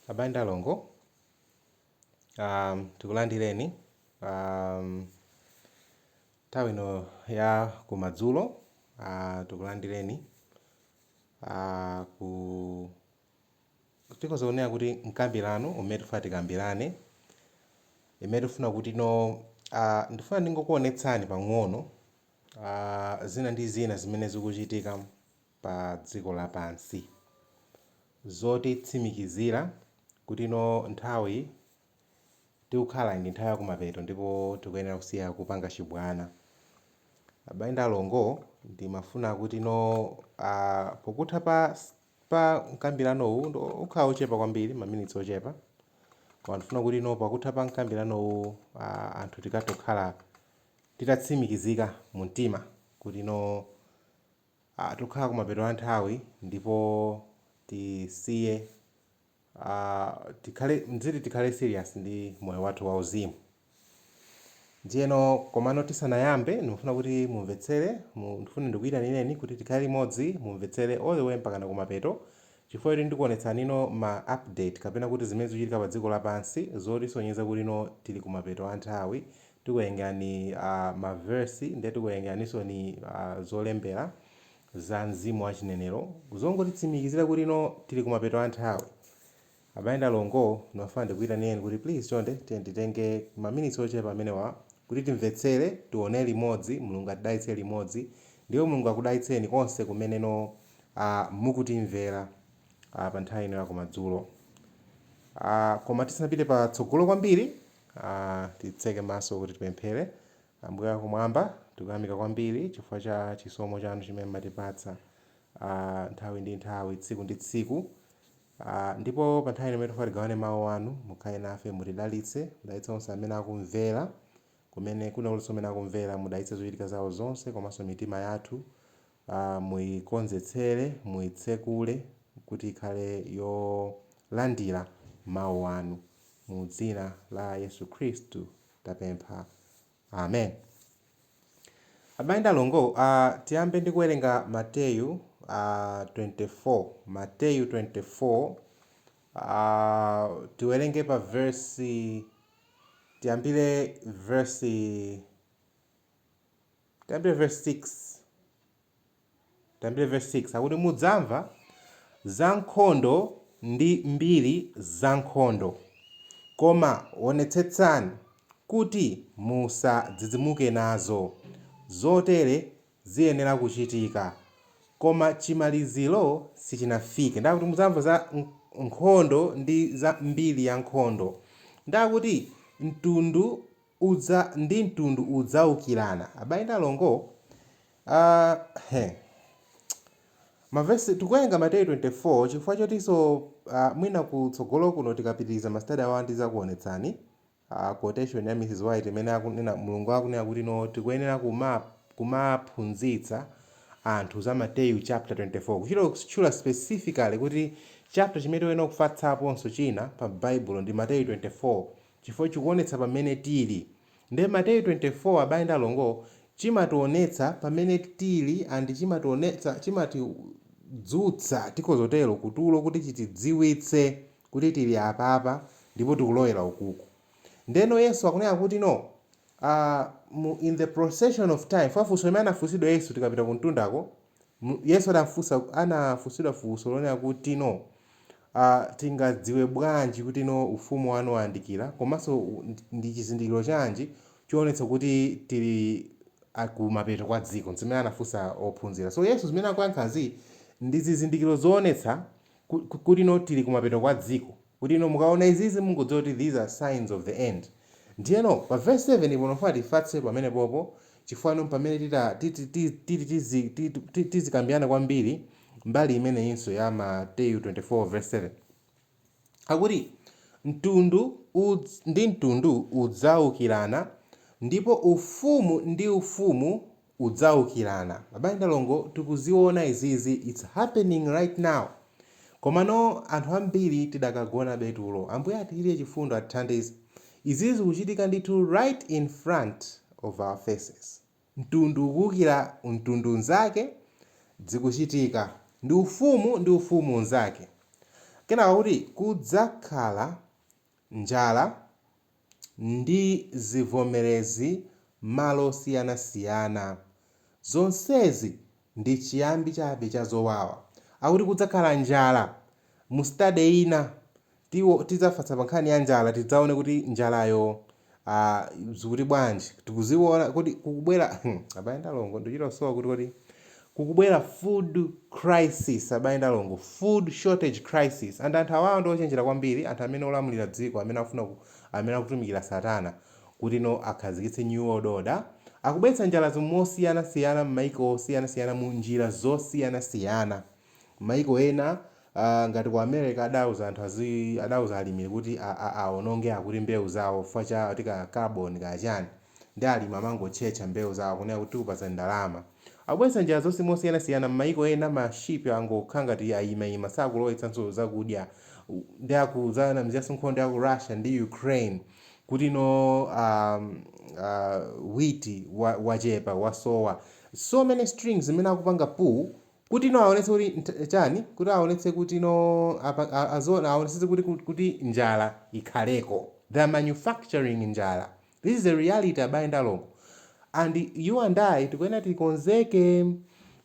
Abale ndi alongo, um, tikulandireni um, nthawi ino ya kumadzulo uh, tikulandireni uh, ku tikhoza kunena kuti mkambirano umene tifuna tikambirane imene tifuna kutino uh, ndifuna ndingokuonetsani pang'ono uh, zina ndi zina zimene zikuchitika pa dziko lapansi. Zotitsimikizira kutino nthawi tikukhalayi ndi nthawi yakumapeto ndipo tikuyenera kusiya kupanga chibwana. Abale ndi alongo, ndimafuna kutino a pokutha pa pa mkambiranowu nde ukhala ochepa kwambiri, maminitsi ochepa, koma ndifuna kutino pakutha pa mkambiranowu a anthu tikathe kukhala titatsimikizika mumtima kutino. a Tikukhala kumapeto a nthawi ndipo tisiye a tikhale mdziti tikhale serious ndi moyo wathu wauzimu. Ndiyeno komano tisanayambe ndimafuna kuti mumvetsere mu ndifuna ndikuyitanireni kuti tikhale limodzi mumvetsere all the way mpakana kumapeto chifukwa choti ndikuonetsani ma update kapena kuti zimene zikuchitika padziko lapansi zotisonyeza kutino tili kumapeto a nthawi tikuwerengera ni a ma verse nde tikuwerengera niso ni a zolembera za mzimu wa chinenero zongotitsimikizira kuti no tili kumapeto a nthawi abale ndi alongo ndimafuna ndikuyitanireni kuti please chonde tiyeni titenge maminitsi ochepa amenewa kuti timvetsere tione limodzi mulungu atidalitse limodzi ndipo mulungu akudalitseni konse kumene no a mukutimvera a pa nthawi ino ya kumadzulo a koma tisanapite patsogolo kwambiri Titseke maso kuti tipemphere. Ambuye Akumwamba, tikuyamika kwambiri chifukwa cha chisomo chanu chimene mumatipatsa nthawi ndi nthawi, tsiku ndi tsiku. Ndipo pa nthawi ino imene tikufuna tigawane mau anu, mukhale nafe, mutidalitse, mudalitse onse amene akumvera, kumene, kwina kulikonse kumene akumvera, mudalitse zochitika zao zonse komanso mitima yathu, Muikonzetsere, muitsekule kuti ikhale yolandira Mau anu. Mu dzina la Yesu Khristu tapempha. Amen. Abale ndi alongo, tiyambe ndi kuwerenga Mateyu 24. Mateyu 24, tiwerenge pa vesi, tiyambire vesi. Tiyambire vesi 6. Tiyambire vesi 6 akuti mudzamva za nkhondo ndi mbiri za nkhondo, koma onetsetsani kuti musadzidzimuke nazo, zotere ziyenera kuchitika, koma chimaliziro sichinafike. Ndiye akuti mudzamva za nkhondo ndi za mbiri ya nkhondo. Ndiye akuti mtundu. udza ndi mtundu udzaukirana abale ndi alongo a he mavesi tikuwerenga mateyu 24 chifukwa chotinso a, mwina kutsogolo kuno tikapitiriza masitadi awa ndidzakuonetsani a, quotation ya mrs white imene akunena mulungu akunena kuti no tikuyenera kuma kumaphunzitsa anthu za mateyu chapter 24 kuchita kutchula specifically kuti chapter chimene tikuyenera kufatsaponso china pa baibulo ndi mateyu 24 chifukwa chikuonetsa pamene tili nde Mateyu 24 abale ndi alongo chimationetsa pamene tili and chimationetsa chimati dzutsa tikhoza kutero kutulo kuti chitidziwitse kuti tili apapa ndipo tikulowera ukuku ndeno Yesu akunena kuti no aah mu in the procession of time chifukwa funso limene anafunsidwa Yesu tikapita kumtundako M, Yesu anafunsa anafunsidwa funso lonena kuti no a tingadziwe bwanji kuti no ufumu wanu wayandikira komanso u- ndi ndi chizindikiro chanji choonetsa kuti tili a kumapeto kwa dziko ndi zimene anafunsa ophunzira so yesu zimene akuyankhazi ndi zizindikiro zoonetsa ku- ku- kuti no tili kumapeto kwa dziko kuti inu mukaona izizi mungodziwa kuti these are signs of the end ndiyeno pa verse 7 po ndifuna tifatse pamenepopo chifukwa inu ndi pamene tita titi ti titi tizi ti ti tizikambirana kwambiri mbali imeneyinso ya mateyu 24 verse 7 akuti mtundu udz ndi mtundu udzaukirana ndipo ufumu ndi ufumu udzaukirana abale ndi alongo tikuziona izizi its happening right now komano anthu ambiri tidakagonabe tulo ambuye atichitire chifundo atithandize izizi zikuchitika ndithu right in front of our faces mtundu ukuukira mtundu unzake zikuchitika ndi ufumu ndi ufumu unzake kenako akuti kudzakhala njala ndi zivomerezi m'malo osiyanasiyana. Zonsezi ndi chiyambi chabe cha zowawa. Akuti kudzakhala njala. Mu study ina tiwo tidzafatsa pa nkhani ya njala tidzaone kuti njalayo a, zikuti bwanji. Tikuziona kuti kukubwera abale ndi alongo ndikuchita kusowa kuti kodi Kukubwera food crisis abale ndi alongo, food shortage crisis and anthu awawa ndi ochenjera kwambiri anthu amene olamulira dziko amene akufuna ku amene akutumikira satana kuti no akhazikitse new world order akubweretsa njalazi mosiyana siyana mmaiko osiyana siyana mu njira zosiyana siyana mmaiko ena Aaa ngati ku America adauza anthu azii adauza alimi kuti a a awononge akuti mbewu zawo chifukwa cha akuti za carbon kaya chani nde alimi amangotchetcha mbewu zawo kunena kuti tikupatsani ndalama. Akubweretsa njira zonse mosiyanasiyana mmayiko ena ma ship angokhala ngati ayimaima sakulowetsanso zakudya nde akudzanamiziranso nkhondo ya ku Russia ndi Ukraine kuti no aah aah wheat wa wachepa wasowa so many strings zimene akupanga pull Kuti, no, aonetse kuti, nt, chani? Kuti aonetse kuti, no, apa, a, aziona, aonetsetse kuti, ku, kuti njala ikhaleko. They are manufacturing njala. This is a reality abale ndi alongo. And you and I tikuyenera tikonzeke.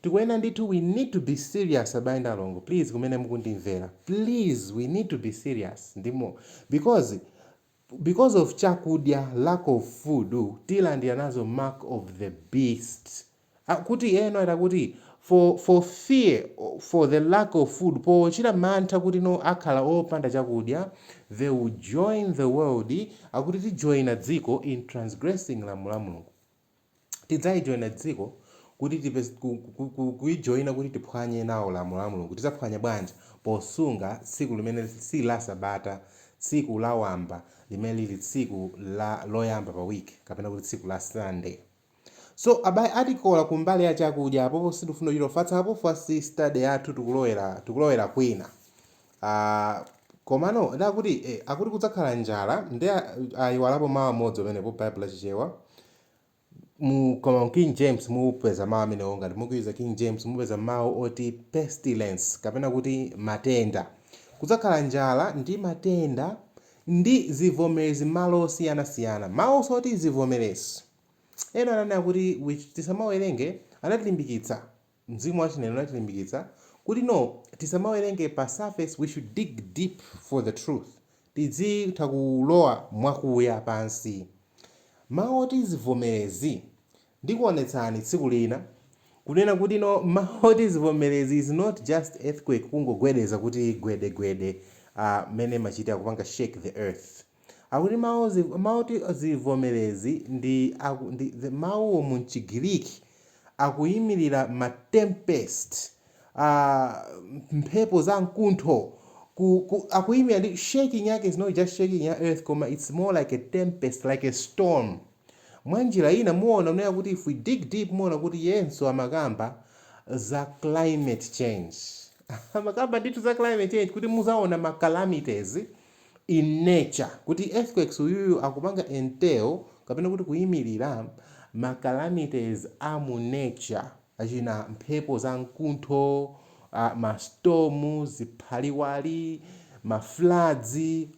Tikuyenera ndithu we need to be serious abale ndi alongo. Please kumene mukundimvera. Please we need to be serious ndi mo, because because of chakudya lack of food tilandira nazo mark of the beast ah, kuti no akuti for for fear for the lack of food pochita mantha kuti no akhala opanda chakudya they will join the world akuti tijoyina dziko in transgressing lamulo la mulungu tidzaijoina dziko kuti tipe ku, ku, ku, kuijoina kuti tiphwanye nawo lamulo la mulungu tidzaphwanya bwanji posunga tsiku limene si la sabata tsiku la wamba limene lili tsiku loyamba pa week kapena kuti tsiku la sunday so abale atikola ku mbali ya chakudya apopo sitifuna kuchita ufatsa apa focus ya study yathu tikulowera tikulowera kwina Aaa komano nde akuti eh akuti kudzakhala njala nde ayiwalapo mawu amodzi pamenepo Bible la Chichewa mu koma mu King James mupeza mawu amenewo ngati mukuyuza King James mupeza mawu oti pestilence kapena kuti matenda. Kudzakhala njala ndi matenda ndi zivomerezi malo osiyanasiyana. Mawunso oti zivomerezi ndinanena kuti tisamawerenge anatilimbikitsa Mzimu wa chinenera unatilimbikitsa kuti no tisamawerenge pa surface we should dig deep for the truth tidzitha kulowa mwakuya pansi mawu oti zivomerezi ndikuonetsani tsiku lina kunena kuti no mawu oti zivomerezi is not just earthquake kungogwedeza kuti gwede gwede ah mmene zimachitira kupanga shake the earth. Akuti mawu mawu oti zivomerezi ndi aku ndi the mawuwo mu m'Chigiriki akuyimirira ma tempest, a mphepo za mkuntho, ku, ku, akuyimirira ndi shaking yake is not just shaking ya earth koma it's more like a tempest, like a storm. Mwanjira ina muona kunena kuti if we dig deep muona kuti iyenso amakamba za climate change. amakamba ndithu za climate change kuti muzaona ma calamities. in nature kuti earthquakes uyuyu akupanga entail kapena kuti kuimilira ma calamities a mu nature achina mphepo za mkuntho uh, ma storm ziphaliwali ma floods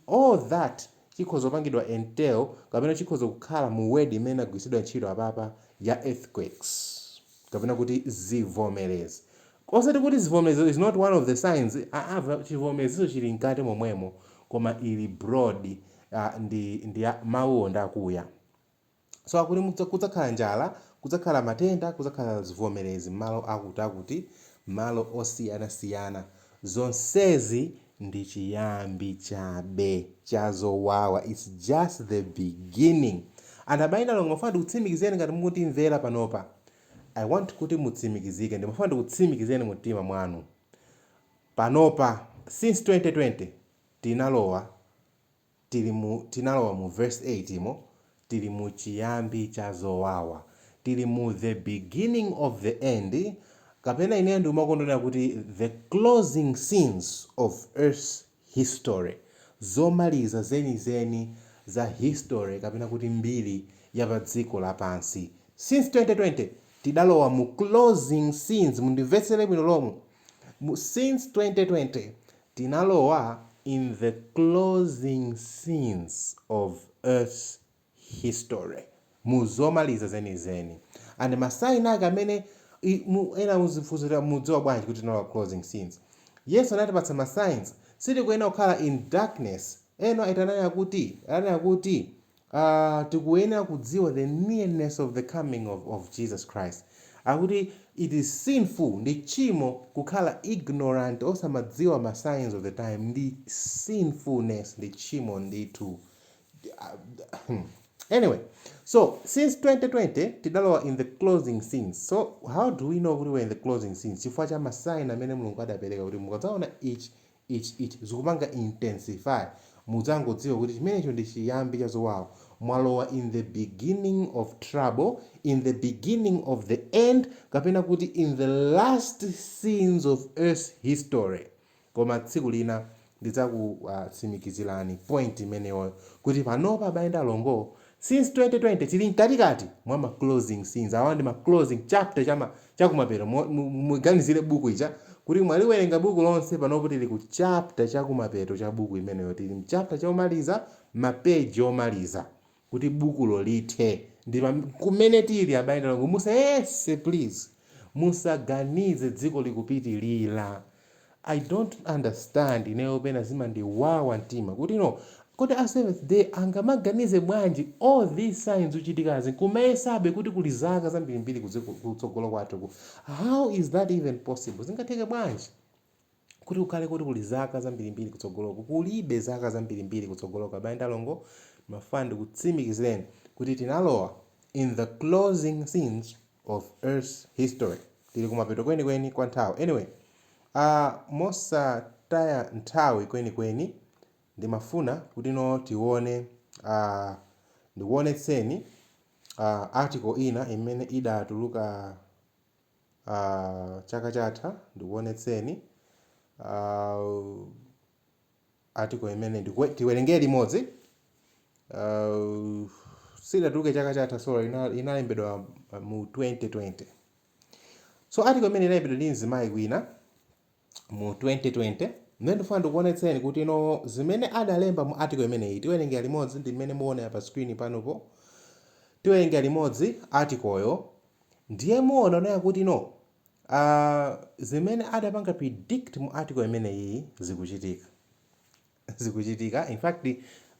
all that chikhoza kupangidwa entail kapena chikhoza kukhala mu word imene agwiritsidwa ntchito apapa ya earthquakes kapena kuti zivomerezi Osati kuti zivomerezi is not one of the signs aa chivomerezicho chili mkati momwemo koma ili broad a ndi ndi a mawuwo ndi akuya so akuti mudza kudzakhala njala, kudzakhala matenda, kudzakhala zivomerezi mmalo akuti akuti mmalo osiyanasiyana zonsezi ndi chiyambi chabe cha zowawa its just the beginning and abale ndi alongo ndimafuna ndikutsimikizireni ngati mukundimvera panopa I want kuti mutsimikizike, ndimafuna ndikutsimikizireni mu mtima mwanu, panopa, since 2020, tinalowa, tiri mu, tinalowa mu verse 8 mo, tiri mu chiyambi cha zowawa, tiri mu the beginning of the end, kapena ineyo ndikumakonda kunena kuti the closing scenes of earth's History, Zomaliza zenizeni za history kapena kuti mbiri ya pa dziko lapansi. Since 2020, tidalowa mu closing scenes mundimvetsere bwino lomwe mu since 2020, tinalowa in the closing scenes of earth's history mu zomaliza zenizeni and ma sign ake amene i mu ena muzifunsa kuti mudziwa bwanji kuti tinalowa closing scenes Yesu anatipatsa ma signs sitikuyenera kukhala in darkness Ellen White ananena kuti ananena kuti aah tikuyenera kudziwa the nearness of the coming of of Jesus Christ akuti it is sinful ndi tchimo kukhala ignorant osamadziwa ma signs of the time ndi sinfulness ndi tchimo ndithu anyway so since 2020 tidalowa in the closing scenes so how do we know kuti we're in the closing scenes chifukwa cha masaini amene mulungu adapereka kuti mukadzaona ichi ichi ichi zikupanga intensify mudzangodziwa kuti chimenecho ndi chiyambi cha zowawa mwalowa in the beginning of trouble in the beginning of the end kapena kuti in the last scenes of earth's history Koma tsiku lina ndidzakutsimikizirani point imeneyoyo kuti panopa abale ndi alongoo since 2020 tili mkatikati mwa ma closing scenes, awa ndi ma closing chapter cha ma chakumapeto mo mu mu muganizire buku ija kuti mwaliwerenga buku lonse panopo tili ku chapter chakumapeto cha buku limenelo tili mchapter chomaliza ma page omaliza. kuti bukulo lithe, ndi pa, kumene tiri, abale ndi alongo. Musayese, please. Musaganize dziko likupitirira. I don't understand, ineyo pena zimandiwawa mtima kuti no, kodi a Seventh Day angamaganize bwanji all these signs zikuchitikazi n'kumayesabe kuti kuli zaka zambirimbiri kudziko, kutsogolo kwathuku. How is that even possible? Zingatheke bwanji? kuti kukhale kuti kuli zaka zambirimbiri kutsogoloku. Kulibe zaka zambirimbiri kutsogoloku, abale ndi alongo, ndimafuna ndikutsimikizireni kuti tinalowa in the closing scenes of earth's history. Tili kumapeto kwenikweni kwa nthawi. Anyway, aah mosataya nthawi kwenikweni ndimafuna kuti no tione aah ndikuonetseni aah article ina imene idatuluka. chaka chatha, ndikuonetseni article imene ndikuwe- tiwerengere limodzi sidatuluke chaka chatha sorry ina- inalembedwa uh, mu 2020 so article imene inalembedwa ndi mzimayi kwina mu 2020 mmene ndifuna ndikuonetseni kuti no zimene adalemba mu article imeneyi tiwerengera limodzi ndi mmene muonera pa screen panopo tiwerengera limodzi articleyo ndiye muona kunena kuti no uh, zimene adapanga predict mu article imeneyi zikuchitika zikuchitika in fact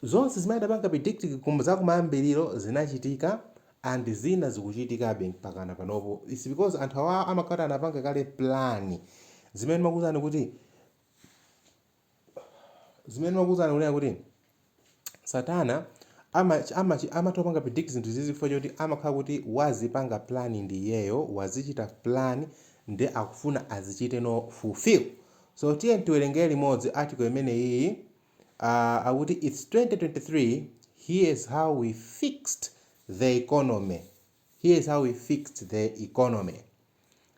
zonse zimene adapanga predict kum zakumayambiliro zinachitika and zina zikuchitikabe mpakana panopo its because anthu awaa amakhala kuti anapanga kale plan zimene ndimakuuzani kuti zimene ndimakuuzani kunena kuti satana ama, ama, amatha kupanga predict zinthu zizi chifukwa choti amakhala kuti wazipanga plan ndi iyeyo wazichita plan nde akufuna azichite no fulfill So tiyeni tiwerengere limodzi article imeneyiyi, a, akuti it's 2023, here is how we fixed the economy, here is how we fixed the economy.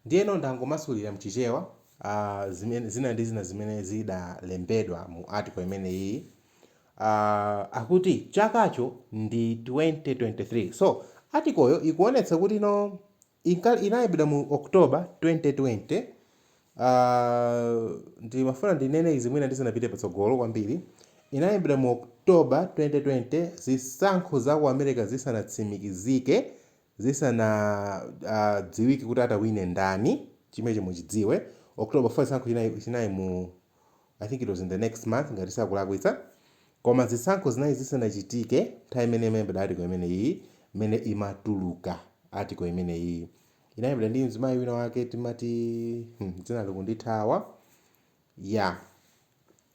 Ndiyeno ndangomasulira mchichewa, a, zimene, zina ndi zina zimene zidalembedwa mu article imeneyiyi. A, akuti chakacho ndi 2023. So article yo ikuonetsa kuti no, Inka inalembedwa mu October 2020, aah ndimafuna ndinene izi mwina ndisanapite patsogolo kwambiri, inalembedwa mu October 2020 zisankho za ku America zisanatsimikizike, zisanadziwike kuti atawine ndani, chimenecho muchidziwe, October 4 chisankho chinali mu. I think it was in the next month ngati sindikulakwitsa koma zisankho zinali zisanachitike nthawi imene imalembedwa article imeneyi imene imatuluka article imeneyi inalembedwa ndi mzimayi wina wake timati hmm, dzina likundithawa ya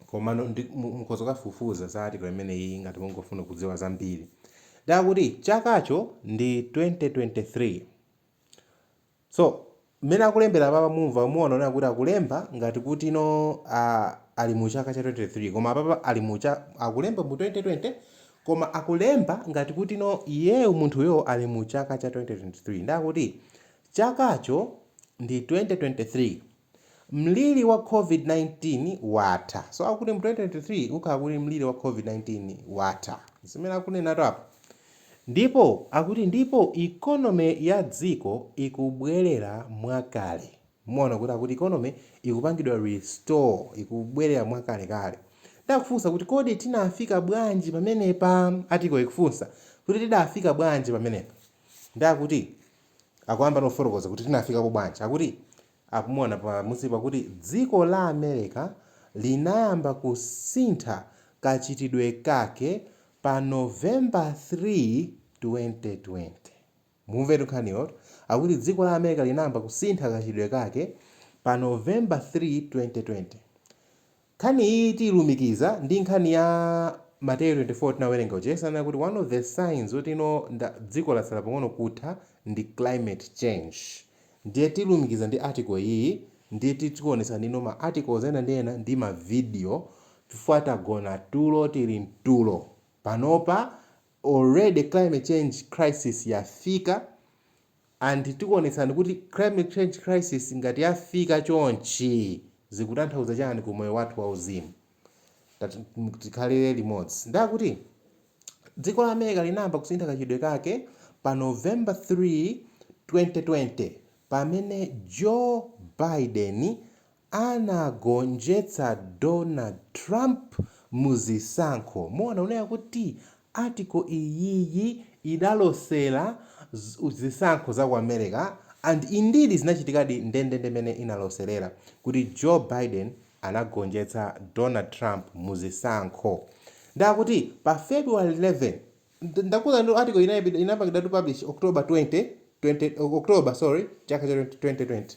komano ndi- mu- mukhoza kukafufuza za article imeneyi ngati mungofuna kudziwa zambiri nde akuti chakacho ndi 2023 So mmene akulembera apapa mumva muona kunena kuti akulemba ngati kuti no aah ali mu chaka cha 2023 koma apapa ali mu cha akulemba mu 2020 koma akulemba ngati kuti no iyeyo munthuyo ali mu chaka cha 2023 ndiye akuti chakacho ndi 2023. Mliri wa COVID-19 watha. So akuti mu 2023 ukhala kuti mliri wa COVID-19 watha. Zimene akunenatu apa. Ndipo akuti ndipo economy ya dziko ikubwerera mwakale. Muona kuti akuti economy ikupangidwa restore, ikubwerera mwakalekale. Nde akufunsa kuti kodi tinafika bwanji pamenepa? Article ikufunsa kuti tidafika bwanji pamenepa? Nde akuti akuyamba kufotokoza kuti tinafikapo bwanji akuti akumuona pa munsipa kuti dziko la America linayamba kusintha kachitidwe kake pa November 3 2020 mumvetu nkhaniyotu akuti dziko la America linayamba kusintha kachitidwe kake pa November 3 2020 Nkhani iyi tiilumikiza ndi nkhani ya Mateyu 24 tinawerenga ija. Yesu ananena kuti one of the signs oti you know dziko latsala pang'ono kutha ndi climate change. Ndiye tiilumikiza ndi article iyiyi ndiye tikuonetsani you know ma articles ena ndi ena ndi ma video chifukwa tagona tulo tili mtulo. Panopa already climate change crisis yafika And tikuonetsani kuti climate change crisis ngati yafika chonchi zikutanthauza chani ku moyo wathu wa uzimu. Tikhalire limodzi. Nde akuti dziko la America linayamba kusintha kachitidwe kake pa November 3, 2020 pamene Joe Biden anagonjetsa Donald Trump mu zisankho. Muona kunena kuti article iyiyi idalosela zisankho za ku America and indeed zinachitikadi ndendende mene inaloserera kuti Joe Biden anagonjetsa Donald Trump mu zisankho. Nde akuti pa February 11, ndakuuzanitu article-yi inapangidwatu publish October 20, 20, October sorry, chaka cha 2020.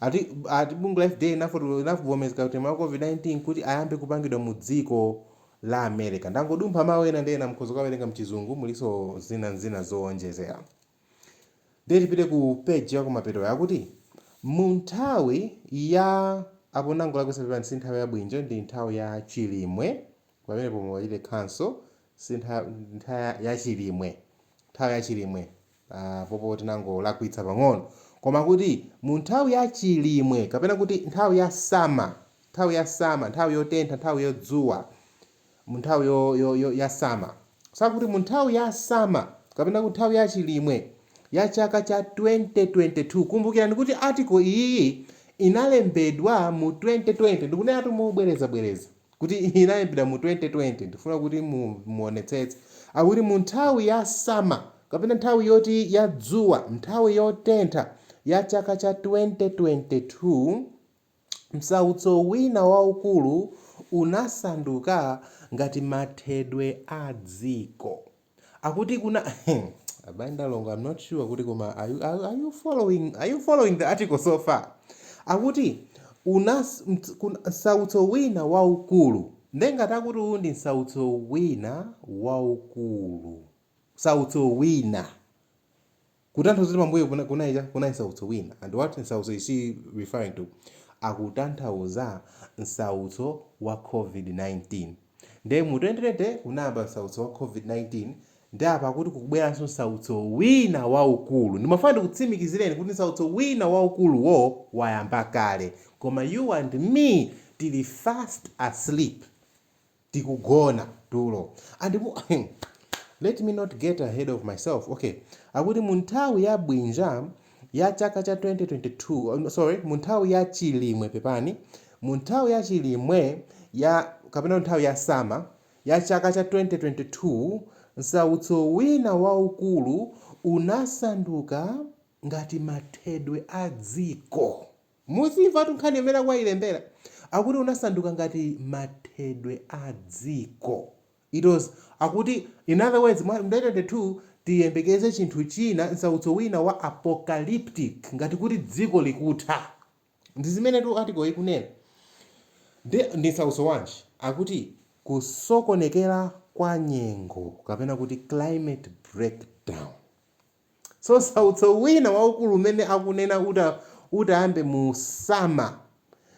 Ati ati bungwe la FDA linafotokoza linavomereza katemera wa COVID-19 kuti ayambe kupangidwa mu dziko la America. Ndangodumpha mawu ena ndi ena mukhoza kukawerenga mchizungu mulinso zina ndi zina zoonjezera. Ndiye tipite ku page yakumapetoyo akuti mu nthawi ya apo ndangolakwitsa pepani si nthawi ya Bwinja ndi nthawi ya Chilimwe pamenepo muwachite cancel si ntha, ntha ya Chilimwe nthawi ya Chilimwe Apopo tinangolakwitsa pang'ono. Koma kuti mu nthawi ya chilimwe kapena kuti nthawi ya sama, nthawi ya sama, nthawi yotentha, nthawi yodzuwa, mu nthawi yo, yo, yo, ya sama. So akuti mu nthawi ya sama kapena kuti nthawi ya chilimwe ya chaka cha 2022. Kumbukirani kuti article iyiyi inalembedwa mu 2020. Ndikuneneratu mobwerezabwereza. kuti inalembedwa mu 2020 ndifuna kuti mu muonetsetse akuti mu nthawi ya summer kapena nthawi yoti ya dzuwa nthawi yotentha ya chaka cha 2022 msautso wina waukulu unasanduka ngati mathedwe a dziko Akuti una abale ndi alongo I'm not sure kuti koma are you, are, are you following are you following the article so far? Akuti unas mt- kun- nsautso wina waukulu nde ngati akuti uwu ndi nsautso wina waukulu nsautso wina Kutanthauza kuti pambuyo kuna, kunaicha, kunai nsautso wina. And what nsautso is he referring to? Akutanthauza nsautso wa COVID-19. Nde mu 2020 kunayamba nsautso wa COVID-19 nde apa akuti kukubweranso nsautso wina waukulu. Ndimafuna ndikutsimikizireni kuti nsautso wina waukuluwo wayamba kale. Koma you and me tili fast asleep. tikugona tulo and mu let me not get ahead of myself okay akuti mu nthawi ya bwinja ya chaka cha 2022 sorry mu nthawi ya chilimwe pepani mu nthawi ya chilimwe ya kapena nthawi ya sama ya chaka cha 2022 nsautso wina waukulu unasanduka ngati mathedwe a dziko Muzimvatu nkhani imene akuyilembera akuti unasanduka ngati mathedwe a dziko it was akuti in other words mwa 2022 tiyembekeze chinthu china nsautso wina wa apocalyptic ngati kuti dziko likutha ndi zimenetu article ikunena ndi ndi nsautso wanji akuti kusokonekera kwa nyengo kapena kuti climate breakdown So nsautso wina waukulu umene akunena utayambe mu summer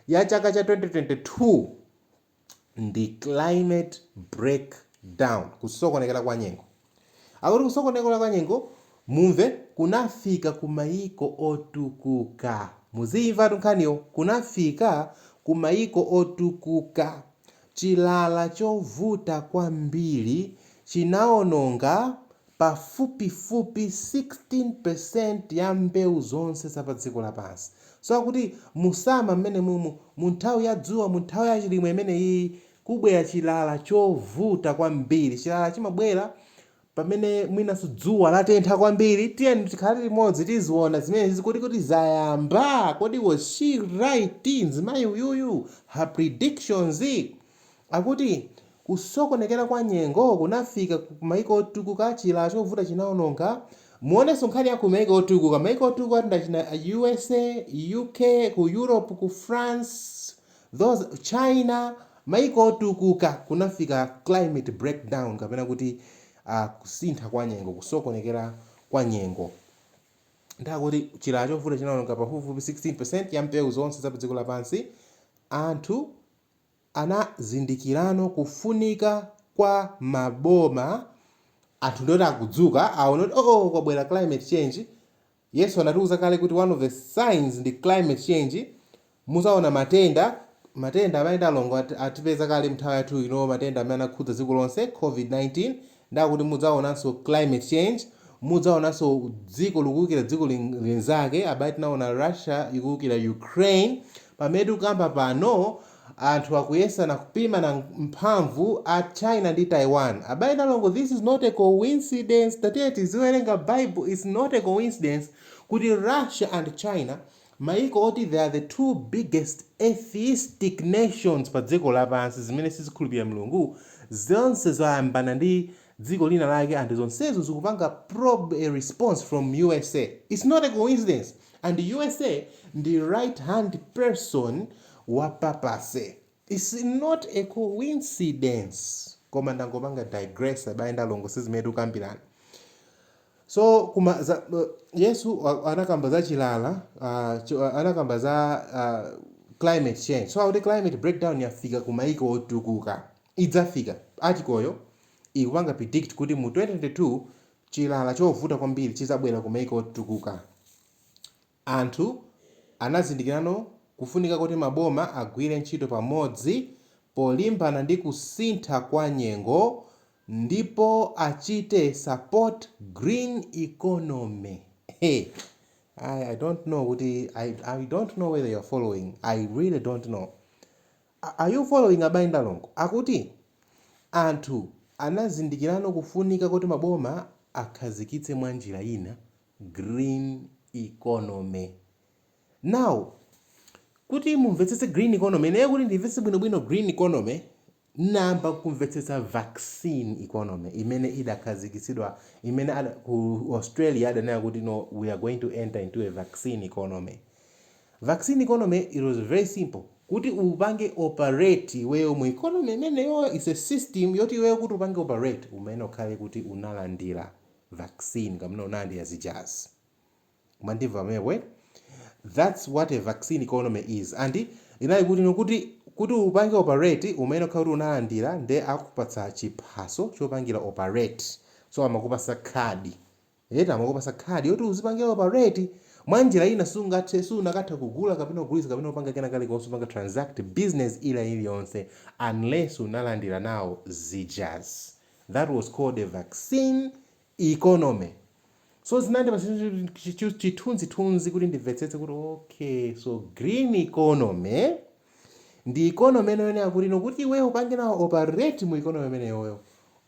ya chaka cha 2022 ndi climate break down, kusokonekera kwa nyengo. Akuti kusokonekera kwa nyengo mumve kunafika ku maiko otukuka. Muziimvatu nkhaniyo, kunafika ku maiko otukuka. Chilala chovuta kwambiri chinaononga pafupifupi 16% ya mbewu zonse za padziko lapansi. So akuti mu summer mmenemumu, mu nthawi ya dzuwa, mu nthawi ya chilimwe imeneyiyi, kubwera chilala chovuta kwambiri. Chilala chimabwera pamene mwinanso dzuwa latentha kwambiri. Tiyeni tikhale limodzi tiziona zimenezizi kodi kuti zayamba? Kodi was she right mzimayi uyuyu? Her predictions? Akuti Kusokonekera kwa nyengo kunafika ku maiko otukuka, chilala chovuta chinaononga, muonenso nkhani ya ku maiko otukuka, maiko otukuka ndi achina usa, UK, ku Europe ku France, those, China, maiko otukuka kunafika climate breakdown kapena kuti kusintha kwa nyengo, kusokonekera kwa nyengo, ndi akuti chilala chovuta chinaononga pafupifupi 16% ya mbewu zonse za padziko lapansi, anthu. anazindikirano kufunika kwa maboma anthu ndioti akudzuka aona kuti oh, oh kwabwera climate change yesu anatiuza kale kuti one of the signs ndi climate change muzaona matenda matenda abale ndi alongo atipeza kale mnthawi yathu ino matenda amene anakhudza dziko lonse covid-19 Nde akuti mudzaonanso climate change, mudzaonanso dziko likuukira dziko linzake, abale tinaona Russia ikuukira Ukraine, pamene tikukamba pano anthu akuyesana kupimana mphamvu a China ndi Taiwan, abale ndi alongo this is not a coincidence, tatiyeni tiziwerenga bible, it's not a coincidence kuti Russia and China Mayiko oti they are the two biggest atheistic nations pa dziko lapansi, zimene sizikhulupirira Mulungu, zonse zayambana ndi dziko lina lake and zonsezo zikupanga probe a response from usa. It's not a coincidence and usa ndi right hand person wa papacy. Its not a coincidence koma ndangopanga digress abale ndi alongo sizimene tikukambirana so yesu anakamba za climate change so akuti climate breakdown yafika ku maiko otukuka idzafika artikoyo ikupanga predict kuti mu 2022 chilala chovuta kwambiri chizabwera ku maiko otukuka Anthu anazindikirano kufunika kuti maboma agwire ntchito pamodzi polimbana ndi kusintha kwa nyengo ndipo achite support green economy he I I don't know kuti I I don't know whether you're following I really don't know are you following abale ndi alongo akuti anthu anazindikirano kufunika kuti maboma akhazikitse mwanjira ina green economy. Now, kuti mumvetsetse green economy, ineyo kuti ndimvetse bwinobwino green economy, ndinayamba kumvetsetsa vaccine economy imene idakhazikitsidwa imene ada, ku Australia adanena kuti no we are going to enter into a vaccine economy. Vaccine economy it was very simple kuti upange operate iweyo mu economy imeneyo is a system yoti iweyo kuti upange operate umene ukhale kuti unalandira vaccine kamene unalandira zijazi mwandimva pamenepo eti that's what a vaccine economy is and inali kuti no kuti kuti upange operate umene ukhale kuti unalandira nde akupatsa chiphaso chopangira operate so amakupatsa khadi eti amakupatsa khadi yoti uzipangira operate mwa njira ina sungathe sunakatha kugula kapena kugulitsa kapena kupanga kena kalikonse kupanga transact business ina iliyonse unless unalandira nawo zijazi that was called a vaccine economy so zinandipatsa chithunzithunzi kuti ndimvetsetse kuti okay so green economy ndi economy imeneyo kuti no kuti iweyo upange nawo operate mu economy imeneyoyo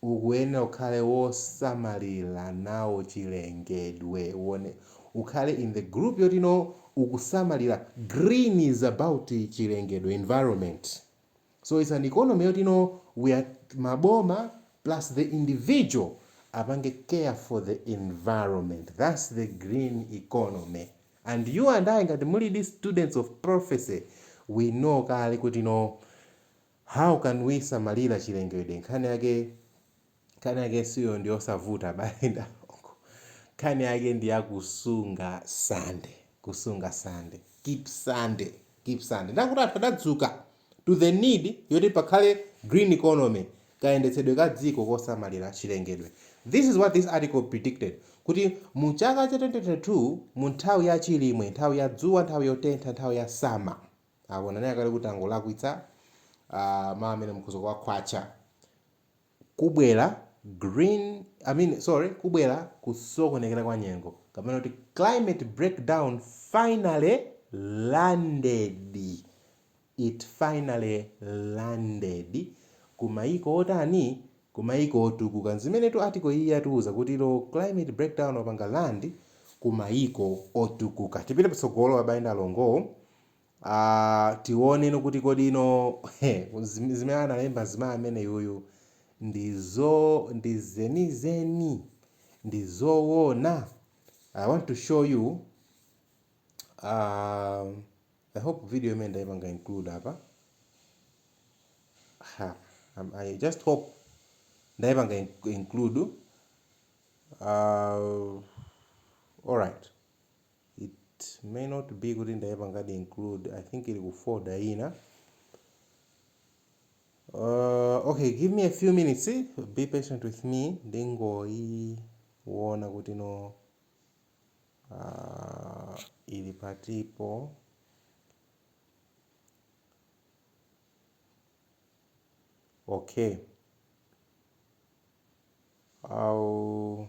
ukuyenera ukhale wosamalira nawo chilengedwe uone ukhale in the group yoti no ukusamalira green is about chilengedwe environment So its an economy yoti no we are maboma plus the individual apange care for the environment thats the green economy and you and I ngati mulidi students of prophecy we know kale kuti no how can we samalira chilengedwe nkhani yake Nkhani yake suyo ndi yosavuta abale ndi alongo. Nkhani yake ndi ya kusunga Sande, kusunga Sande, keep Sande, keep Sande. Nde akuti anthu adadzuka to the need yoti pakhale green economy, kayendetsedwe ka dziko kosamalira chilengedwe. This is what this article predicted kuti mu chaka cha 2022 mu nthawi ya chilimwe, nthawi ya dzuwa, nthawi yotentha, nthawi ya summer. Apo nanena kale kuti tangolakwitsa ah, mawu amene mukhoza kuwakhwatcha. kubwera green I mean sorry kubwera kusokonekera kwa nyengo kapena kuti climate breakdown finally landed it finally landed ku mayiko otani ku mayiko otukuka nzimenetu article iyi yatiuza kuti no climate breakdown wapanga land ku mayiko otukuka tipite patsogolo abale ndi alongo Aaa tione kuti kodi no zim zimene analemba mzimayi ameneyu ndi zo ndi zenizeni? Ndi zoona? I want to show you aaa I hope video imene ndaipanga include apa ha am I just hope ndaipanga in include aaa alright. it may not be kuti ndaipangadi include i think ili ku folder ina uh, okay give me a few minutes eh? be patient with me ndingoiona kuti no uh, ili patipo okay I'll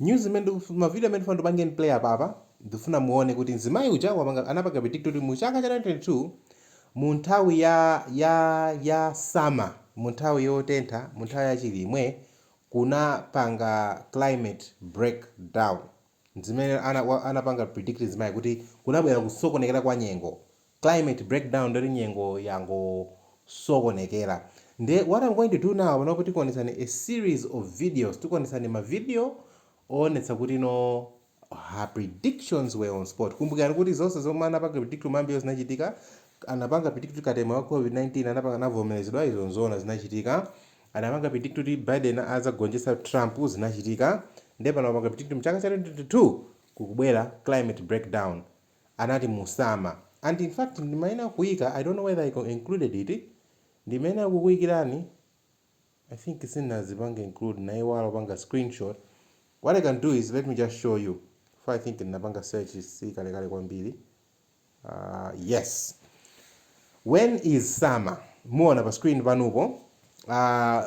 News imene ndikufuna ma video amene ndikufuna ndipangeni play apapa ndikufuna muone kuti mzimayi uja wapanga anapanga predict kuti mu chaka cha 2022 mu nthawi ya ya ya summer mu nthawi yotentha mu nthawi ya chilimwe kunapanga climate break down ndizimene ana anapanga predict mzimayi kuti kunabwera kusokonekera kwa nyengo climate breakdown ndekuti nyengo yangosokonekera nde what am going to do now panopo tikuonetsani a series of videos tikuonetsani ma video oonetsa kuti no her predictions were on spot kumbukirani kuti zonse zomwe anapanga predict kumbuyo zinachitika anapanga predict kuti katemera wa covid 19 anapanga adzavomerezedwa izo nzoona zinachitika anapanga predict kuti biden adzagonjetsa trump zinachitika nde pano apanga predict mchaka cha 2022 kukubwera climate breakdown anati mu summer and in fact ndimayenera kuika I don't know whether I included it ndimayenera kukuikirani I think sindinazipange include ndinaiwala kupanga screenshot what I can do is let me just show you chifukwa I think ndinapanga search si kalekale kwambiri uh, yes when is summer muona pa screen panopo uh,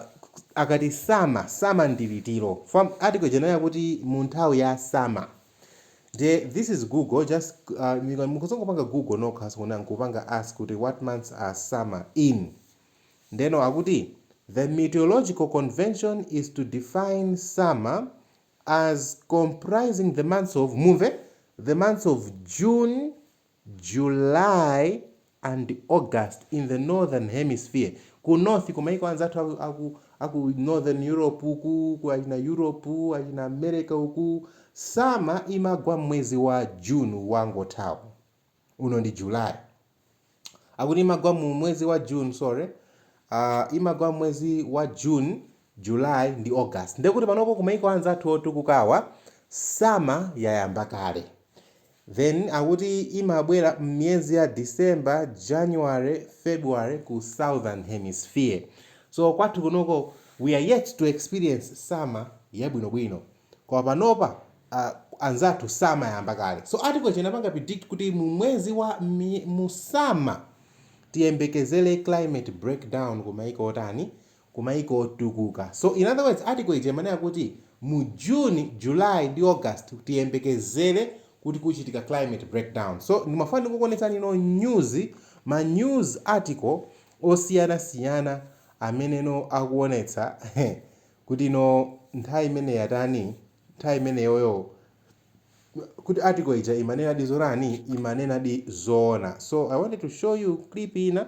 akati summer summer ndi liti article ija yanena kuti mu nthawi ya summer ndiye this is google just uh, mukuona ndangopanga google ndekuti ndinaipanga ask kuti what months are summer in ndeno akuti the meteorological convention is to define summer as comprising the months of mumve the months of june July and August in the Northern Hemisphere, Ku North ku maiko anzathu aku aku aku Northern Europe uku, ku achina Europe, achina America uku, Summer imagwa mmwezi wa June uwu wangothawu. Uno ndi July. Akuti imagwa mu mwezi wa June, sorry, Uh, imagwa mmwezi wa June, July ndi August. Ndekuti panopo ku maiko anzathu otukukawa, Summer yayamba kale. Then akuti imabwera mmiyezi ya December, January, February ku Southern Hemisphere. So kwathu kunoko we are yet to experience summer yabwinobwino. Koma panopa aah anzathu summer yayamba kale. So article ija inapanga predict kuti mu mwezi wa mmiy mu summer tiyembekezere climate breakdown kumaiko otani? ku maiko otukuka. So in other words article ija imanena kuti mu June, July ndi August tiyembekezere kuti kuchitika climate breakdown. So ndimafuna ndikukuonetsani no news, ma news article osiyana siyana amene no akuonetsa kuti nthawi imeneyi yatani, nthawi imeneyoyo kuti article ija imanenadi zotani, imanenadi zoona. So I wanted to show you clip ina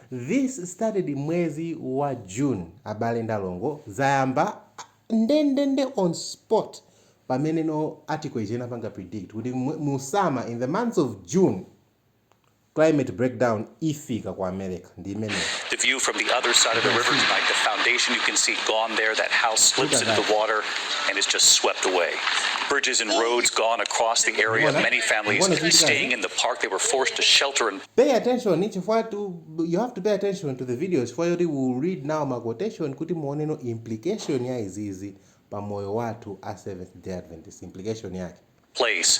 This started mwezi wa June abale ndi alongo zayamba ndendende on spot pamene no article ija inapanga predict kuti mu summer in the months of June climate breakdown ifika ku America ndi imeneyi. The view from the other side of the river tonight, the foundation you can see gone there. That house slips into the water and is just swept away. Bridges and roads gone across the area. Many families staying in the park. They were forced to shelter and Pay attention chifukwa tu you have to pay attention to the video chifukwa choti we will read now ma quotation kuti muoneno implication ya izizi pa moyo wathu a Seventh Day Adventist implication yake. place.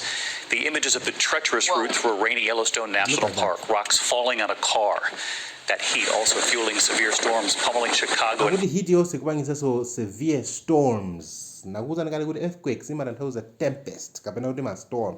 The images of the treacherous Whoa. route through a rainy Yellowstone National Park, rocks falling on a car. That heat also fueling severe storms pummeling Chicago. And heat yonse kupangisa so severe storms. Nakuza nikali kuti earthquakes imatanthauza tempest kapena kuti ma storm.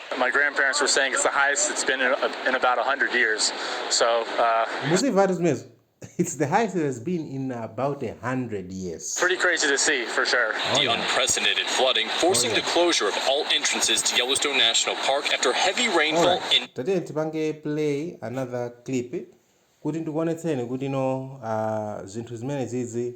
Muzimvatu zimenezo It's the highest it has been in about a hundred years. Oh yeah. Alright. Tatiyeni tipange play another clip kuti ndikuonetseni kuti no ah, zinthu zimenezizi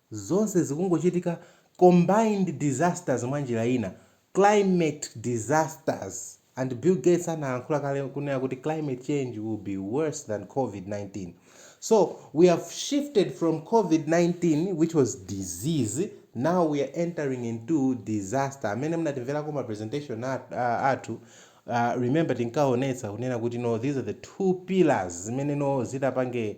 Zonse zikungochitika combined disasters mwanjira ina climate disasters and Bill Gates analankhula kale kunena kuti climate change will be worse than covid 19 so we have shifted from covid 19 which was disease now we are entering into disaster amene munamverako ma presentation athu uh, remember tinkaonetsa kunena kuti no these are the two pillars zimene no zitapange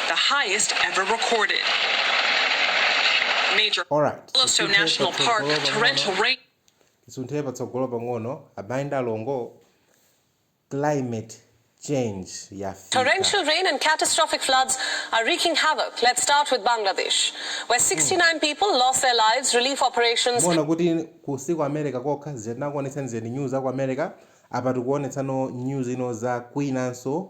the highest ever recorded. Major Alright, Yellowstone tisinthe National Park patsogolo pang'ono. torrential rain. tisunthe patsogolo pang'ono abale ndi alongo climate change yafika Torrential rain and catastrophic floods are wreaking havoc. Let's start with Bangladesh, where 69 people lost their lives. Relief operations muona kuti si ku america kokha tinakuonetsani za news za ku america apa tikuonetsani news ino za kwinanso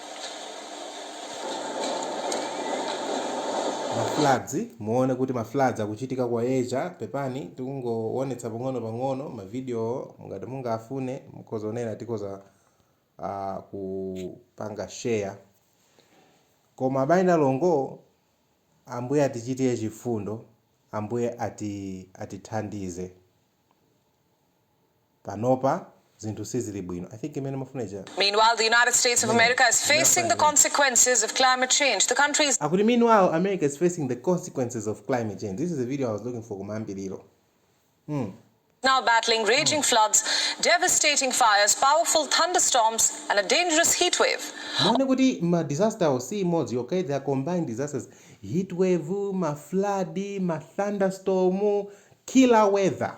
ma floods muone kuti ma floods akuchitika ku asia pepani tikungowonetsa pang'ono pang'ono ma video ngati mungafune mukhoza kunena tikhoza uh, kupanga share koma abale ndi alongo ambuye atichitire chifundo ambuye atithandize panopa zinthu sizili bwino i think imene umafuna ija Meanwhile, the United States of imeneyo America is facing the ndinasaina imeneyo consequences of climate change. The country is. akuti meanwhile america is facing the consequences of climate change this is the video i was looking for kumayambiliro mm now battling mm raging floods, devastating fires, powerful thunderstorms, and a dangerous heatwave. muone kuti ma disaster awo si imodzi yokha they are combined disasters heatwave ma flood ma thunderstorm killer weather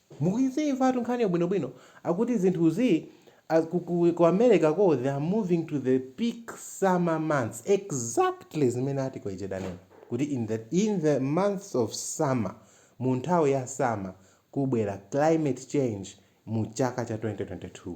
Mukuimvatu nkhaniyo bwino bwino, akuti zinthuzi a ku ku ku America ko they are moving to the peak summer months exactly zimene article ija idanena kuti in the in the months of summer mu nthawi ya summer kubwera climate change mu chaka cha 2022.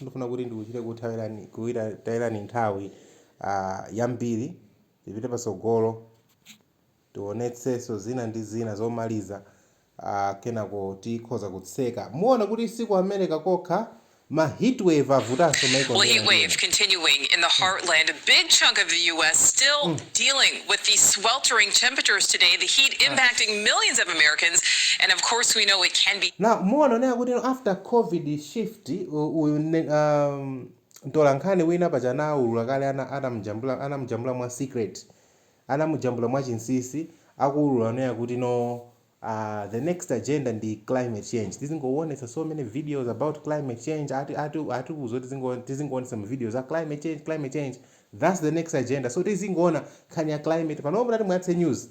Ndifuna kuti ndikuchite kuthawirani, kuitayirani nthawi yambiri. Tipite patsogolo, tiwonetsenso zina ndi zina zomaliza, kenako tikhoza kutseka. Muone kuti si ku America kokha, ma heatwave avutanso maiko Well, ambiri ambiri. heatwave continuing in the heartland. A big chunk of the U.S. still dealing with the sweltering temperatures today, the heat impacting millions of Americans, and of course we know it can be. Now, muona onena kuti after Covid shift. Kuti uyu ndi mtolankhani wina paja anaulula kale ana anamjambula anamjambula mwa secret anamujambula mwa chinsisi akuulula kunena kuti no aah the next agenda ndi climate change tizingoonetsa so many videos about climate change ati ati atiuza kuti tizingo tizingoonetsa ma videos a climate change climate change that's the next agenda so tizingoona nkhani ya climate panopa mutati muyatse news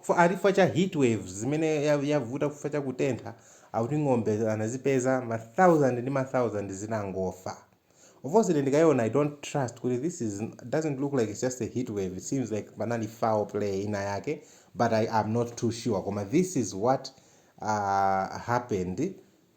Chifukwa ati chifukwa cha heat waves zimene ya, yavuta chifukwa cha kutentha, akuti ng'ombe anazipeza ma thousand ndi ma thousand zitangofa. Of course ine ndikaziona I don't trust kuti this is doesn't look like it's just a heat wave, it seems like panali foul play ina yake but I am not too sure koma this is what uh happened.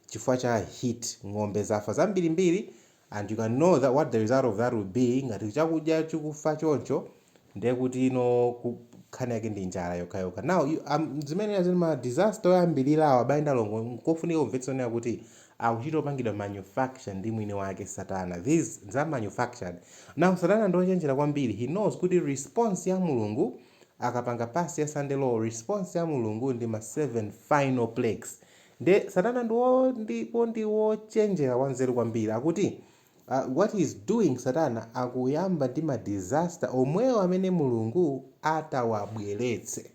chifukwa cha heat ng'ombe zafa zambirimbiri and you can know tha what the result of that will be ngati chakudya chikufa choncho ndiye kuti no ku, nkhani yake ndi njala yokhayokha now you, um, zimene zili ma disaster oyambirirawa abale ndi alongo nkofunika kumvetsa kunena kuti akuchita opangidwa manufacture ndi mwini wake satana these are manufactured now satana ndi ochenjera kwambiri he knows kuti response ya mulungu akapanga pass ya sunday law response ya mulungu ndi ma 7 final plagues Nde satana ndi wo ndipo ndi wochenjera wanzeru kwambiri akuti uh what he is doing satana akuyamba ndi ma disaster omwewo amene Mulungu adzawabweretse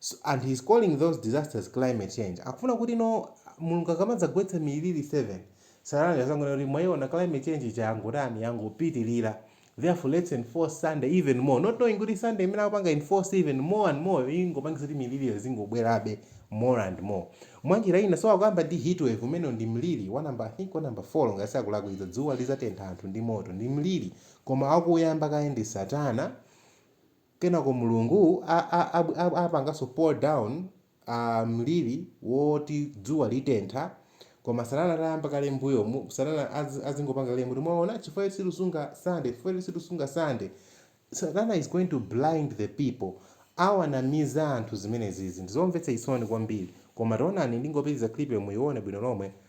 so and he is calling those disasters climate change akufuna kuti no Mulungu akamadzagwetsa miliri 7 satana adzangonena kuti mwaiona climate change ija yangotani yangopitirira Therefore let's enforce Sunday even more not knowing kuti Sunday imene akupanga enforce even more and more yo ingopangitsa kuti miliriyo izingobwerabe more and more. Mwanjira ina so akukamba ndi heatwave umeneyo ndi mliri wa number I think wa number 4 ngati sindikulakwitsa dzuwa lizatentha anthu ndi moto ndi mliri koma akuuyamba kaye ndi satana kenako Mulungu a, a, a, a, apanganso pour down a mliri woti dzuwa litentha koma satana atayamba kale mbuyomu satana az, azingopanga claim kuti mwaona chifukwa choti sitisunga sunday chifukwa choti sitisunga sunday satana is going to blind the people awanamiza anthu zimenezizi ndizomvetsa chisoni kwambiri koma tiyeni ndingopitiliza clip yo muyione bwino lomwe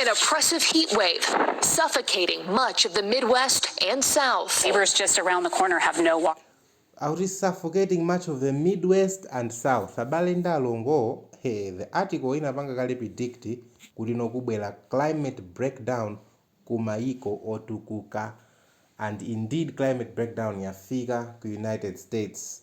An oppressive heat wave suffocating much of the Midwest and South. Neighbors just around the corner have no water. Out is suffocating much of the Midwest and South. Abale ndi alongo, hey, the article inapanga kale predict kuti no kubwera climate breakdown ku mayiko otukuka and indeed climate breakdown yafika ku United States.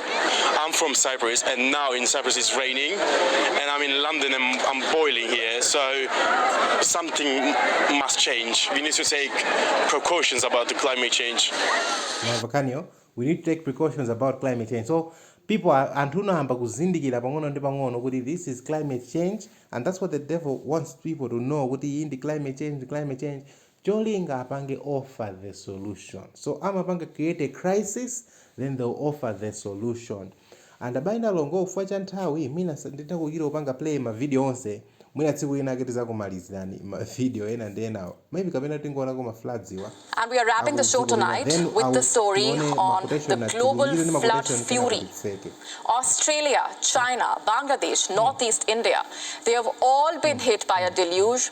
I'm from Cyprus, and now in Cyprus it's raining, and I'm in London and I'm boiling here. So something must change. We need to take precautions about the climate change. Mavakanyo, we need to take precautions about climate change. So people are anthu unahamba kuzindikira pang'ono ndi pang'ono kuti this is climate change and that's what the devil wants people to know kuti iyi ndi climate change climate change cholinga apange offer the solution so amapanga create a crisis then they will offer the solution and abale ndi alongo chifukwa cha nthawi mwina sinditha kuchita kupanga play ma video onse mwina tsiku lina ake tizakumalizirani ma video ena ndi enawo maybe kapena tingoonako ma floods awa And we are wrapping the show akudziko lina tonight then with the awu- story tione on maquotation the na global tiwunikire ndi flood maquotation kenako fury. titseke Australia, China, Bangladesh, Northeast India, they have all been hit by a deluge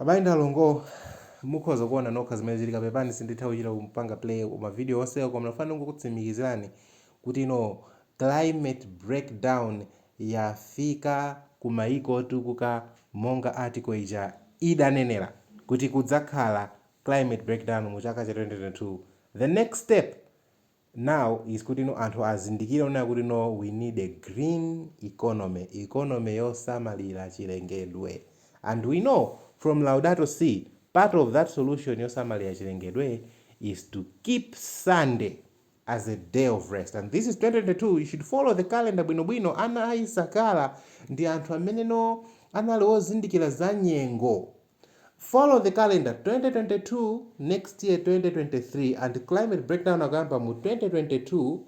Abale ndi alongo, mukhoza kuona nokha zimene zikuchitika, pepani sinditha kuchita kupanga play ma video onse koma ndafuna ndingokutsimikizirani kuti you know climate break down yafika ku maiko otukuka monga article ija idanenera kuti kudzakhala climate break down mu chaka cha 2022 the next step now is kutino anthu azindikire kunena kutino we need a green economy, economy yosamalira chilengedwe and we know from Laudato Si part of that solution yosamalira chilengedwe is to keep Sunday as a day of rest and this is 2022 you should follow the calendar bwino bwino ana a Isakala ndi anthu ameneno anali ozindikira za nyengo. Follow the calendar 2022 next year 2023 and climate breakdown akuyamba mu 2022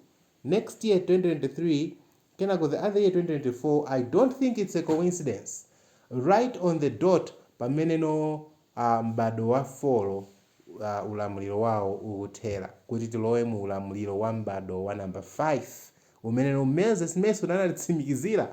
next year 2023 kenako the other year 2024 I don't think it's a coincidence right on the dot pameneno uh, m'bado wa folo uh, ulamuliro wawo ukuthera kuti tilowe mu ulamuliro wa m'bado wa number 5 Umene Moses Mason anatitsimikizira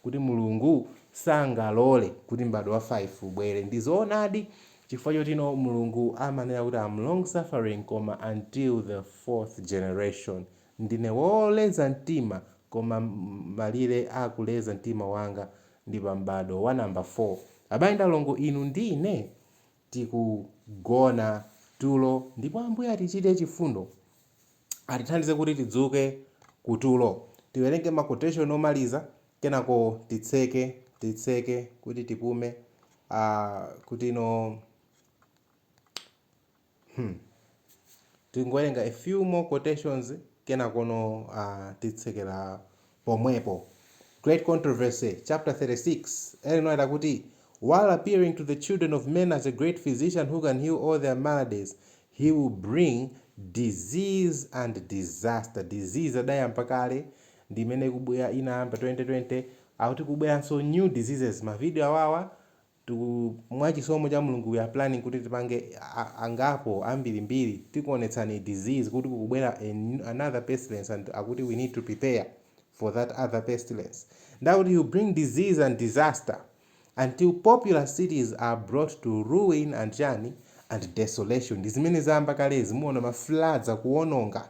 kuti Mulungu sangalole kuti m'bado wa 5 ubwere. Ndi zoonadi chifukwa chotino Mulungu amanena kuti am long suffering koma until the fourth generation. Ndine woleza mtima koma malire a kuleza mtima wanga ndi pa m'bado wa number 4. Abale ndi alongo inu ndi ine? tikugona tulo ndipo Ambuye atichite chifundo, atithandize kuti tidzuke ku tulo. Tiwerenge ma quotation omaliza kenako titseke, titseke kuti tipume, aah kutino hmm tingowerenga a few more quotations kenakono aah titsekera pomwepo. Great Controversy, chapter 36, Ellen White akuti, While appearing to the children of men as a great physician who can heal all their maladies, he will bring disease and disaster. Disease anayamba kale, ndi imeneyi inayamba 2020, akuti kubweranso new diseases, mavideo awawa Tiku, mwa chisomo cha Mulungu we are planning kuti tipange a, a, angapo, ambiri mbiri, tikuonetseni disease kuti kukubwera a new, another pestilence and akuti we need to prepare for that other pestilence. Nde akuti he'll bring disease and disaster until populous cities are brought to ruin and chani and desolation. Ndi zimene zayamba kale, muona ma floods akuononga.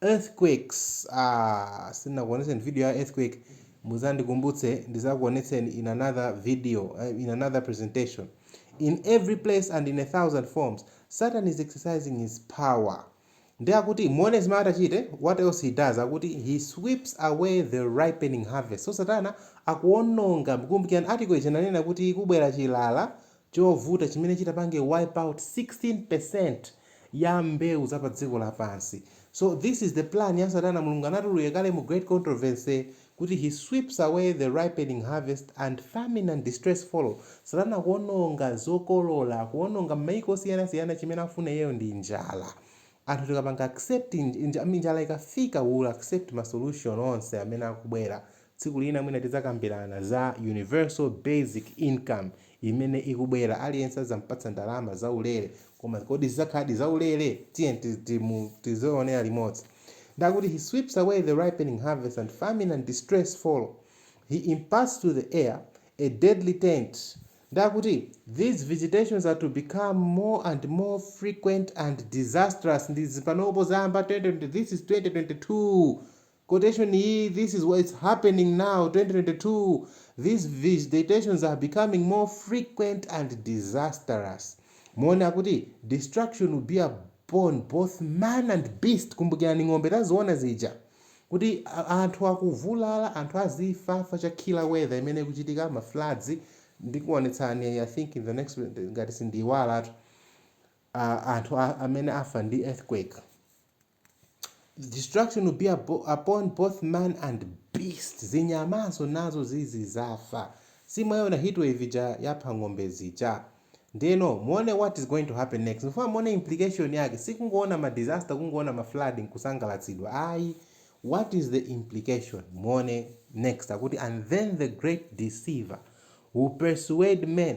Earthquakes aah sindinakuonetseni video ya earthquake muzandikumbutse ndizakuonetseni in another video in another presentation in every place and in a thousand forms satan is exercising his power nde akuti muone zimene atachite what else he does akuti he sweeps away the ripening harvest so satana akuononga kumbukirani article ija inanena kuti kubwera chilala Chovuta chimene chitapange wipe out 16% ya mbewu za padziko lapansi. So this is the plan ya satana Mulungu anatiululira kale mu Great Controversy kuti he sweeps away the ripening harvest and famine and distress follow. Satana akuononga zokolola, akuononga mmaiko osiyana siyana chimene akufuna iyeyo ndi njala. Anthu tikapanga accept nj, nj, njala ikafika we will accept ma solution onse amene akubwera Tsiku lina mwina tidzakambirana za universal basic income imene ikubwera. Aliyense adzampatsa ndalama zaulere. Koma kodi zidzakhaladi zaulere? Tiyeni tizionera limodzi. Ndiye akuti, He sweeps away the ripening harvest, and famine and distress follow. He imparts to the air a deadly taint. Ndiye akuti, These visitations are to become more and more frequent and disastrous. Ndi izi panopo zayamba 2020, this is 2022. Quotation iyi This is what is happening now 2022 these visitations are becoming more frequent and disastrous muone akuti destruction will be upon both man and beast kumbukirani ng'ombe taziona zija kuti anthu akuvulala anthu azifafa cha killer weather imene ikuchitika ma floods ndikuonetsani i think in the next ngati sindiiwalatu uh, anthu a, amene afa ndi earthquake destruction will be abo- upon both man and beast zinyamanso nazo zizizafa simunayione heatwave ija yapha ng'ombe zija ndiyeno muone what is going to happen next ndikufuna muone implication yake sikungoona ma disaster kungoona ma flood nkusangalatsidwa ayi what is the implication muone next akuti and then the great deceiver will persuade men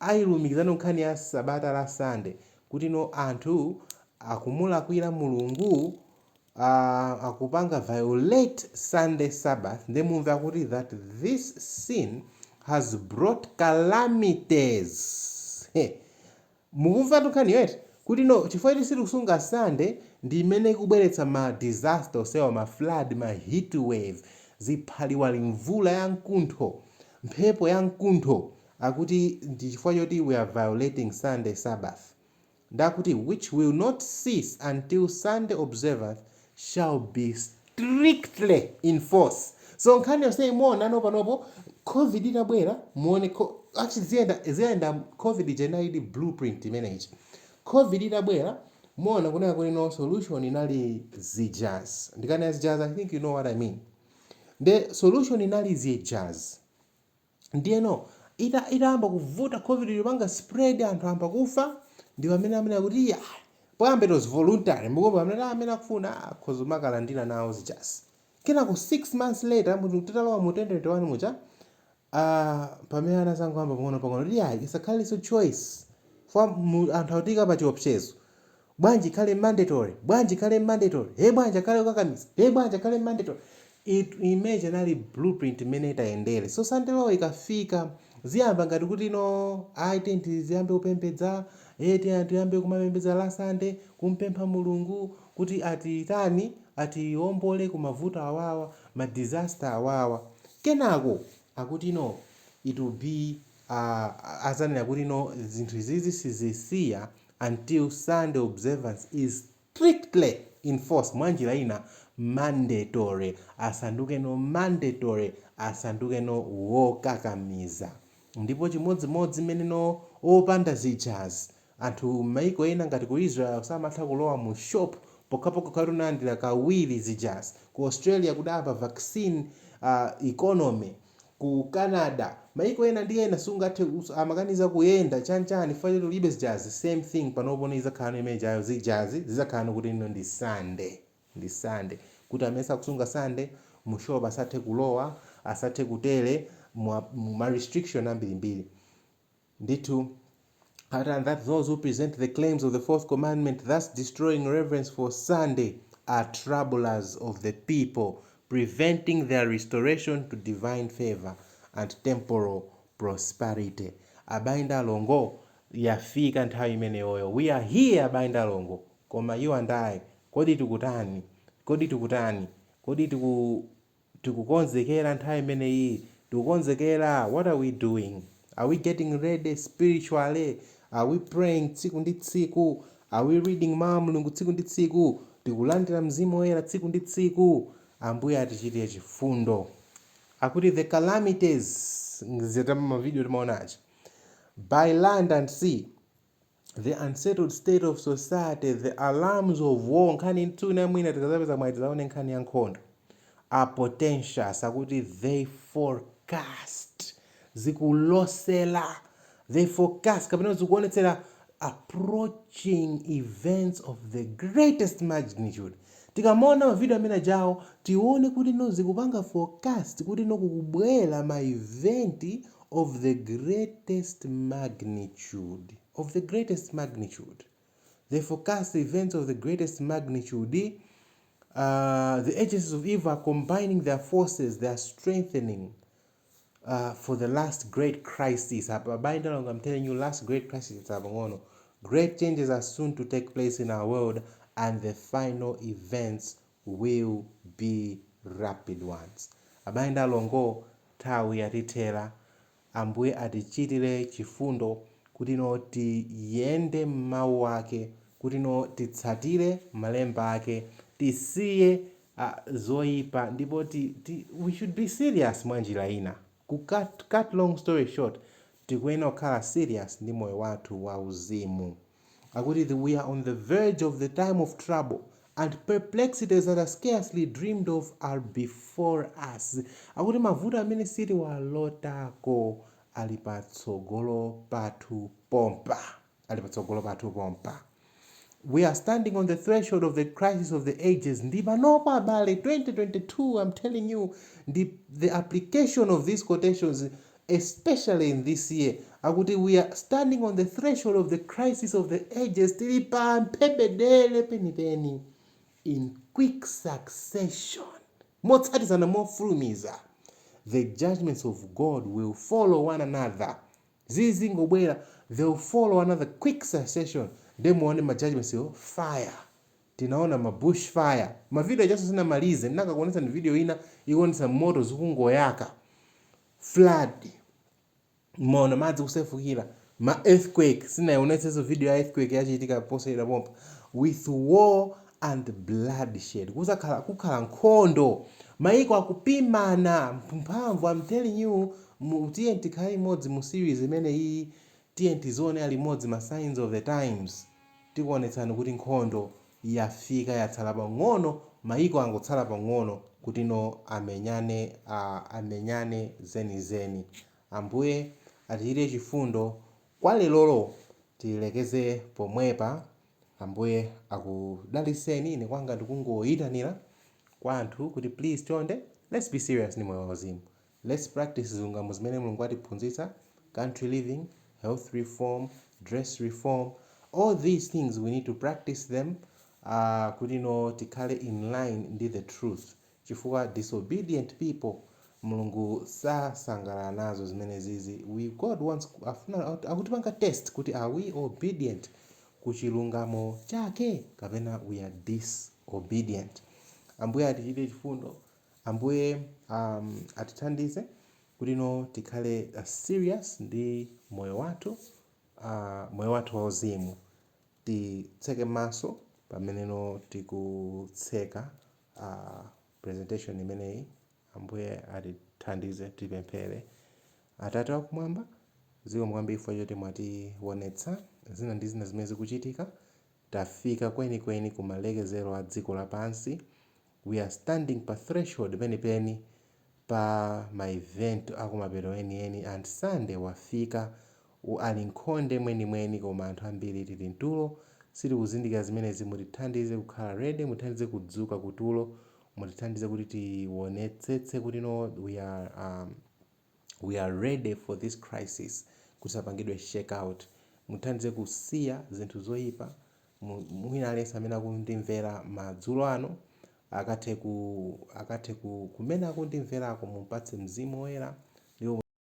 Ayi alumikizano nkhani ya sabata la sunday kuti no anthu akumulakwira mulungu aah akupanga violate sunday sabbath nde mumve akuti that this sin has brought calamities he mukumvatu nkhaniyo eti kuti no chifukwa choti sitikusunga sunday ndi chimene chikubweretsa ma disaster onsewa ma flood, ma heat wave, ziphaliwali, mvula ya nkuntho, mphepo ya nkuntho. akuti ndi chifukwa choti we are violating Sunday Sabbath ndiye akuti which will not cease until Sunday observance shall be strictly enforced. So nkhani yonseyi muona ano panopo Covid itabwera muone ko, actually ziyenda ziyenda Covid ija inalidi blueprint imene ija. Covid itabwera muona kunena kuti no solution inali zijazi. Ndikanena zijazi I think you know what I mean. The solution inali zijazi. Ndiyeno ita, itayamba kuvuta Covid yopanga spread anthu ayamba kufa, ndi pamene amati iyayi, poyamba it was voluntary, mukuona, pamene kuti amene akufuna akhoza kumakalandira nawo zijazi. Kenako six months later mu, titalowa mu 2021 muja, ah, pamene anadzangoyamba pang'onopang'ono kuti iyayi isakhalenso choice, fwa mu, anthu akutiika pa chiopsezo. Bwanji ikhale mandatory? Bwanji ikhale mandatory? Hey, bwanji ikhale yokakamiza? Hey, bwanji ikhale mandatory? I mean inali blueprint imene itayendere. So Sunday law ikafika iziyamba ngati kuti no ayi tiye tiziyambe kupembedza eh tiye tiyambe kumapembedza la Sunday kumpempha Mulungu kuti atitani atiwombole ku mavuto awawa ma disaster awawa kenako akuti no it will be aah azanena kuti no zinthu izizi sizisiya until Sunday observance is strictly enforced mwanjira ina mandatory asanduke no mandatory asanduke no wokakamiza ndipo chimodzimodzi mmene no opanda zijazi anthu mmaiko ena ngati ku Israel sumatha kulowa mu shop pokhapokha ukati unalandira kawiri zijazi ku Australia kudayamba vaccine aah economy ku Canada maiko ena ndi ena sungathe amakaniza kuyenda chanichani chifukwa choti ulibe zijazi same thing panopo ni izakhalano mmene ijayo zijazi zizakhalano kuti no ndi Sunday ndi Sunday kuti amene sakusunga Sunday mu shop asathe kulowa asathe kutere mu ma restriction ambirimbiri Ndithu, akuti and that those who present the claims of the fourth commandment thus destroying reverence for Sunday are troublers of the people, preventing their restoration to divine favour and temporal prosperity. Abae ndi alongo, yafika nthawi imeneyoyo. We are here abae ndi alongo. Koma you and I, kodi tikutani? Kodi tikutani? Kodi tiku. tikukonzekera nthawi imeneyi? Tikukonzekera? What are we doing? Are we getting ready spiritually? Are we praying tsiku ndi tsiku? Are we reading Mau a Mulungu tsiku ndi tsiku? Tikulandira Mzimu Woyera tsiku ndi tsiku? Ambuye atichitire chifundo. Akuti the calamities, zija ma video timaona aja, by land and sea, the unsettled state of society the alarms of war nkhani ina mwina tikazapeza mwayi tizaone nkhani ya nkhondo are portentous akuti they forecast zikulosela they forecast kapena zikuonetsera approaching events of the greatest magnitude Tikamaona ma video amene ajawo tione kuti no zikupanga forecast kuti no kukubwera ma event of the greatest magnitude, of the greatest magnitude. They forecast events of the greatest magnitude uh, the agencies of evil are combining their forces, they are strengthening uh, for the last great crisis apa abale ndi alongo I'm telling you last great crisis apang'ono great changes are soon to take place in our world and the final events will be rapid ones abale ndi alongo nthawi yatithera ambuye atichitire chifundo kuti no tiyende m'mawu ake kuti no titsatire malemba ake tisiye zoipa ndipo ti ti we should be serious mwanjira ina ku cut cut long story short tikuyenera kukhala serious ndi moyo wathu wa uzimu akuti the we are on the verge of the time of trouble and perplexities that are scarcely dreamed of are before us akuti mavuto amene sitiwalotako ali patsogolo pathu pompa ali patsogolo pathu pompa. We are standing on the threshold of the crisis of the ages ndi panopo abale 2022 I'm telling you ndi the application of these quotations especially in this year akuti we are standing on the threshold of the crisis of the ages tili pa mphebedele penipeni in quick succession motsatizana mofulumiza the judgments of God will follow one another zizingobwera they will follow another quick succession nde muone ma judgements wa fire tinaona ma bush fire ma video ajanso sinamalize ndikanakuonetsani video ina ikuonetsa moto zikungoyaka flood mumaona madzi kusefukira ma earthquake sinaionetsenso video ya earthquake yachitika posachedwa pompa with war and bloodshed kuzakhala kukhala nkhondo maiko akupimana mphamvu am telling you mu tiyeni tikhale limodzi mu series imeneyiyi tiyeni tidzionera limodzi ma signs of the times tikuonetsani kuti nkhondo yafika yatsala pang'ono maiko angotsala pang'ono kuti no amenyane a amenyane zenizeni ambuye atichitire chifundo kwa lerolo tilekeze pomwepa Ambuye akudaliseni ine kwanga ndikungoyitanila kwa anthu kuti please chonde let's be serious ndi moyo wa uzimu let's practice zilungamo zimene Mulungu watiphunzitsa country living, health reform, dress reform all these things we need to practice them uh, kuti no tikhale in line ndi the truth chifukwa disobedient people mulungu sasangalala nazo zimenezizi we God wants afuna akutipanga test kuti are we obedient ku chilungamo chake kapena we are disobedient ambuye atichitire chifundo ambuye um, atithandize kuti no tikhale uh, serious ndi moyo wathu uh, moyo wathu wauzimu titseke maso pamene no tikutseka presentation imeneyi. Ambuye atithandize tipemphere. Atate wakumwamba, zikomo kwambiri chifukwa choti mwatiwonetsa zina ndi zina zimene zikuchitika. Tafika kwenikweni ku malekezero a dziko lapansi. We are standing pa threshold penipeni pa ma event akumapeto enieni and Sunday wafika ali mkhonde mwenimweni koma anthu ambiri tili mtulo sitikuzindikira zimenezi mutithandize kukhala ready mutithandize kudzuka kutulo mutithandize kuti tionetsetse kuti no we are um, we are ready for this crisis kusapangidwe shake out mutithandize kusiya zinthu zoyipa Mu- mwina aliyense amene akundimvera madzulo ano akathe ku, akathe ku, kumene akundimverako, mumpatse Mzimu Woyera, ndipo.